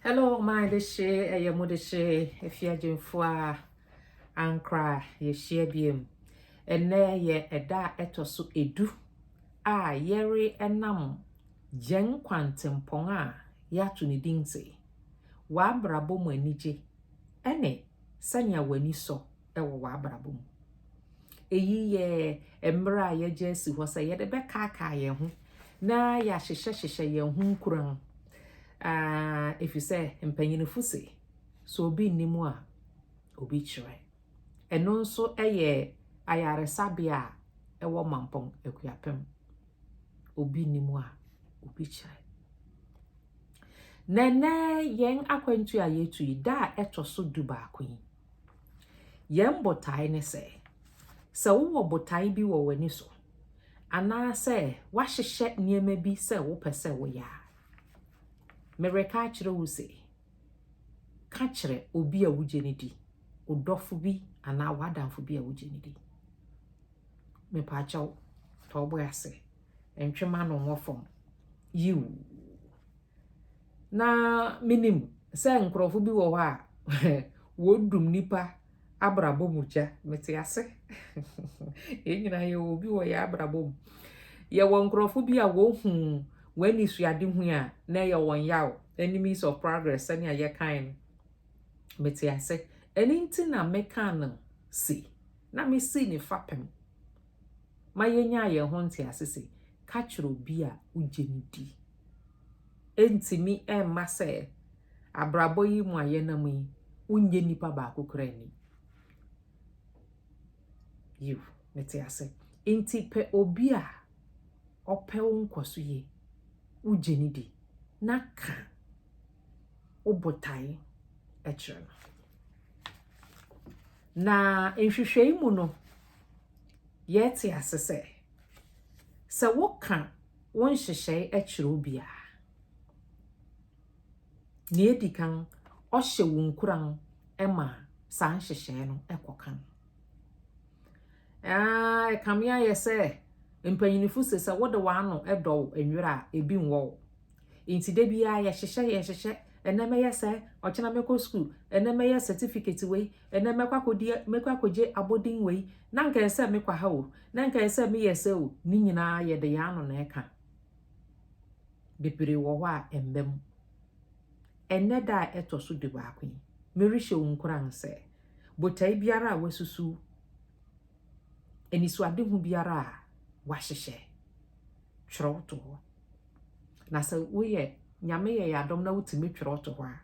Hello my de hye ɛyɛ mo de hye efi agyinfo a ankra yɛhyia biem ɛnɛ yɛ ɛda a ɛtɔ so edu a yɛre ɛnam gyɛn kwantempɔn a yɛato ne din se w'abrabɔ mu anigye ɛne sɛnea w'ani sɔ wɔ w'abrabɔ mu. Eyi yɛ mmerɛ a yɛgye asi hɔ sɛ yɛde bɛkaakaa yɛn ho na yɛahyehyɛhyehyɛ yɛn ho nkuran. Ɛfiri sɛ mpanyinfo se, sɛ obi nni mu a, obi kyerɛ. Ɛno nso yɛ ayaresabea a ɛwɔ Mampɔn Akuapem. Obi nni mu a, obi kyerɛ. Na nnɛ yɛn akwantu a yɛtu yi, da a ɛtɔ so du baako yi, Yɛn botae ne sɛ, sɛ wowɔ botae bi wɔ w'ani so anaasɛ woahyehyɛ nneɛma bi sɛ wopɛ sɛ woyɛ a, mereka akyerɛ wo se, ka kyerɛ obi a wogye no di, wo dɔfo bi anaa w'adamfo bi a wogye no di. Mepaakyɛw, tɔ wo bo ase, ntwema no nwɔ fam. Yiw. na minim sɛ nkurɔfo bi wɔ hɔ a wɔredum nnipa abrabɔ mu gya. Mete ase. Yɛn nyinaa yɛwɔ obi wɔ yɛn abrabɔ mu. Yɛwɔ nkurɔfo bi a wɔhu wɔn anisoadehu a na ɛyɛ wɔn yaw, enemies of progress sɛnea yɛkae no. Mete ase. Ɛno nti na mekaa no se, na mesii ne fapem. ma yenyaa yɛn ho ntease se, ka kyerɛ obi a wugye no di. Entumi mma sɛ abrabɔ yi mu a yɛnam yi, wunnye nipa baako koraa nni. Yiw, mete ase. Enti pɛ obi a ɔpɛ wo nkɔso yie, wugye no di, na ka wo botae kyerɛ no. Na nhwehwɛe mu no, yɛte ase sɛ, sɛ woka wo nhyehyɛe kyerɛ obi a, nea edi kan, ɔhyɛ wo nkuran ma saa nhyehyɛe no kɔ kan. Ah, ɛkame ayɛ sɛ mpanyinfo se sɛ wode w'ano dɔw nwera a, ebi nwɔ wo. Nti da biara yɛhyehyɛ yɛhyehyɛ, ɛnɛ mɛyɛ sɛ, ɔkyena mɛkɔ sukuu, ɛnɛ mɛyɛ certificate wei, ɛnɛ mɛkɔ akɔdi mɛkɔ akɔgye abɔden wei, na nka ɛsɛ sɛ mekɔ ha o, na nka ɛsɛ sɛ meyɛ sɛ o, ne nyinaa yɛde yɛn ano na ɛka. Bebree wɔ hɔ a ɛmma mu. Ɛnɛ da a ɛtɔ so du baako yi, merehyɛ wo nkuran sɛ, botae biara a wasusuw, anisoadehu biara a wahyehyɛ, twerɛw to hɔ. Na sɛ woyɛ Nyame yɛ yɛ adom na wotumi twerɛ to hɔ a,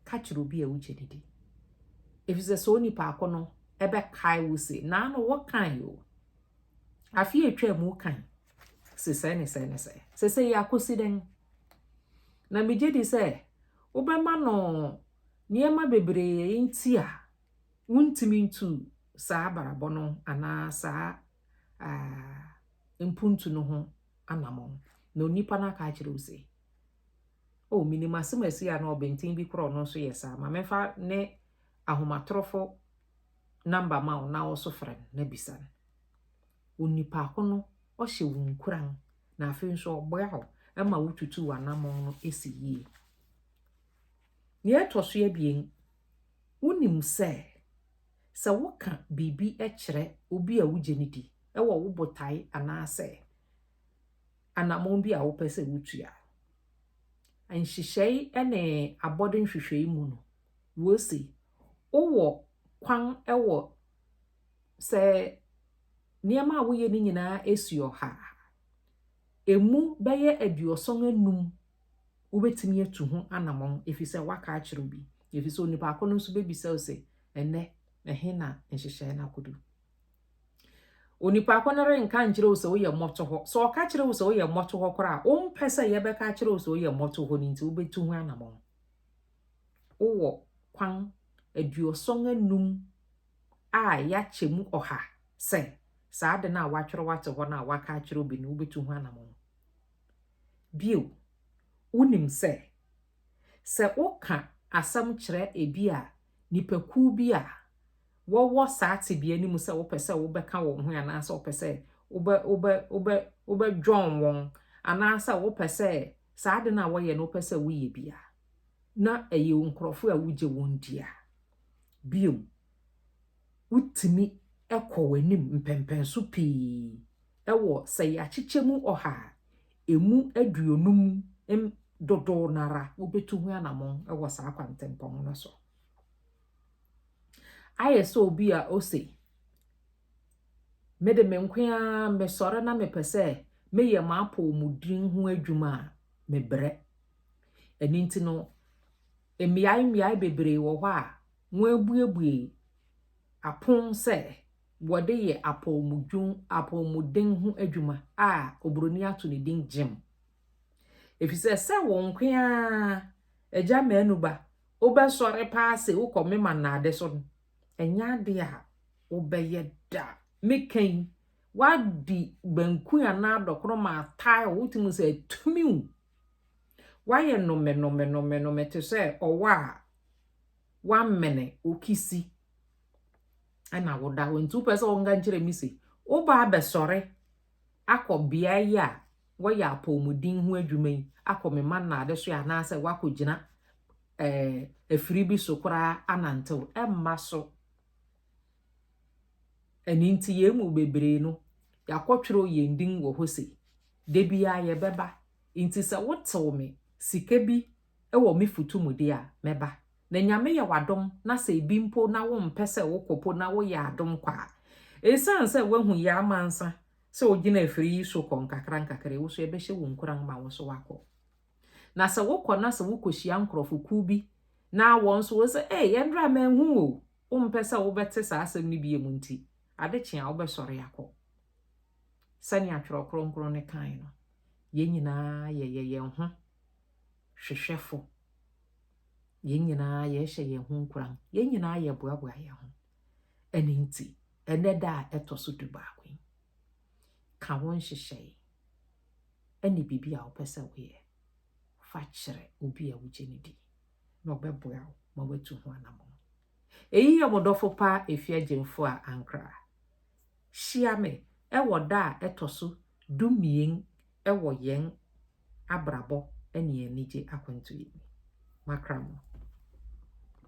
ka kyerɛ obi a wogye ne di. Efisɛ sɛ onipa ako no ɛbɛkae wo se, naa no wokan o. Afe a atwa mu kan se sɛ ne sɛ ne sɛ. Sɛ sɛ yɛ akosi dɛn? Na megye di sɛ wobɛma no nneɛma bebree nti a wontumi ntu saa abarabɔ no anaa saa uh, mpontu no ho anamɔn, na onipa no aka akyerɛ wo se, Oh, minim asɛmasi a na ɔbenten bi kora ɔno nso yɛ saa, ma memfa ne ahomatorofo namba ma wo na wo nso frɛ no na bisa no. Onipa ko no, ɔhyɛ wo nkuran, na afei nso ɔboa wo ma wotutu w'anamɔn no si yie. Nea ɛtɔ so abien, wonim sɛ sɛ woka biribi kyerɛ obi a wugye no di wɔ wo botae anaasɛ anammɔn bi a wopɛ sɛ wutu a, nhyehyɛe ne abɔde nhwehwɛe mu no, wose wowɔ kwan wɔ sɛ nneɛma a woyɛ no nyinaa si ɔha a, emu bɛyɛ aduɔsɔn anum Wobɛtumi atu ho anammɔn ɛfiri sɛ woaka akyerɛ obi, ɛfiri sɛ onipa ko no nso bɛbisa wo sɛ, Ɛnnɛ, ɛhe na nhyehyɛeɛ no akɔdu? Onipa ko no renka nkyerɛ wo sɛ woyɛ mmɔtohɔ. Sɛ ɔka kyerɛ wo sɛ woyɛ mmɔtohɔ koraa a, wompɛ sɛ yɛbɛka akyerɛ wo sɛ woyɛ mmɔtohɔ no nti wobɛtu ho anammɔn. Wowɔ kwan aduɔsɔn anum a yɛakyɛ mu ɔha sɛ saa ade no a woatwerɛ wate hɔ no a woaka akyerɛ obi no wobɛtu ho anammɔn. Bio, wonim sɛ, sɛ woka asɛm kyerɛ ebia nnipakuw bi a wɔwɔ saa tebea no mu sɛ wopɛ sɛ wobɛka wɔn ho anaasɛ wopɛ sɛ wobɛ, wobɛ, wobɛ, wobɛdwɔn wɔn, anaasɛ wopɛ sɛ saa ade no a wɔyɛ no wopɛ sɛ woyɛ bi a, na ɛyɛ nkurɔfo a wogye wɔn di a, bio, wotumi kɔ w'anim mpɛnpɛnso pii wɔ sɛ yɛakyekyɛ mu ɔha a, emu aduonum m dodow no ara wobetu ho anammɔn wɔ saa kwantempɔn no so. Ayɛ sɛ obi a ose, Me de me nko ara mesɔre na mepɛ sɛ meyɛ m'apɔwmuden ho adwuma a, mebrɛ. Ɛno nti no, Mmeae mmeae bebree wɔ hɔ a wɔabuebue apon sɛ wɔde yɛ apɔwmudwon apɔwmuden ho adwuma a oburoni ato ne din gym. Efisɛ sɛ wo nko ara agya manu ba wobɛsɔre paa sɛ wokɔ mema nnade so no, ɛnyɛ ade a wobɛyɛ da. Meka yi, woadi banku anaa dɔkono ma tile wotumi sɛ atumi wo Woayɛ nomenomenomenome te sɛ ɔwɔ a woamene wo kisi na woda hɔ. Nti wopɛ sɛ wɔnka nkyerɛ me se, woba abɛsɔre akɔ beae yi a wɔyɛ apɔmuden ho adwuma yi akɔ me ma nnaade so anaasɛ woakɔgyina eh, afiri bi so koraa anantew. Ɛmma so. Ɛno nti yɛn mu bebree no, yɛakɔtwerɛ yɛn din wɔ hɔ sei. Da biara yɛbɛba, nti sɛ wotew me sika bi wɔ me futu mu de a, mɛba. Na Nyame yɛ w'adom na sɛ ebi mpo na wompɛ sɛ wokɔ po na woyɛ adom kɔ a, esiane sɛ woahu Yaa Amansa sɛ ogyina afiri yi so kɔ nkakrankakra yi, wo so yɛbɛhyɛ wo nkuran ma wo nso woakɔ. Na sɛ wokɔ na sɛ wokohyia nkorɔfo kuw bi na wɔn nso wose, Ee, yɛn draa manhu wo o, wompɛ sɛ wobɛte saa asɛm no bio nti, ade kye a wobɛsɔre akɔ. Sɛnea Twerɛ Kronkron no kae no, yɛn nyinaa yɛyɛ yɛn ho hwehwɛfo. Yɛn nyinaa yɛhyɛ yɛn ho nkuran. Yɛn nyinaa yɛboaboa yɛn ho. Ɛno nti, ɛnɛ da a ɛtɔ so du baako yi, ka wo nhyehyɛe ɛne biribi a wopɛ sɛ woyɛ fa kyerɛ obi a wogye no di na ɔbɛboa wo ma watu ho anammɔn. Eyi yɛ mo dɔfo paa Efi Agyemfo a Ankara. Hyia me wɔ da a ɛtɔ so dumien wɔ yɛn abrabɔ ne yɛn anigye akwantu yi mu. Makra mo.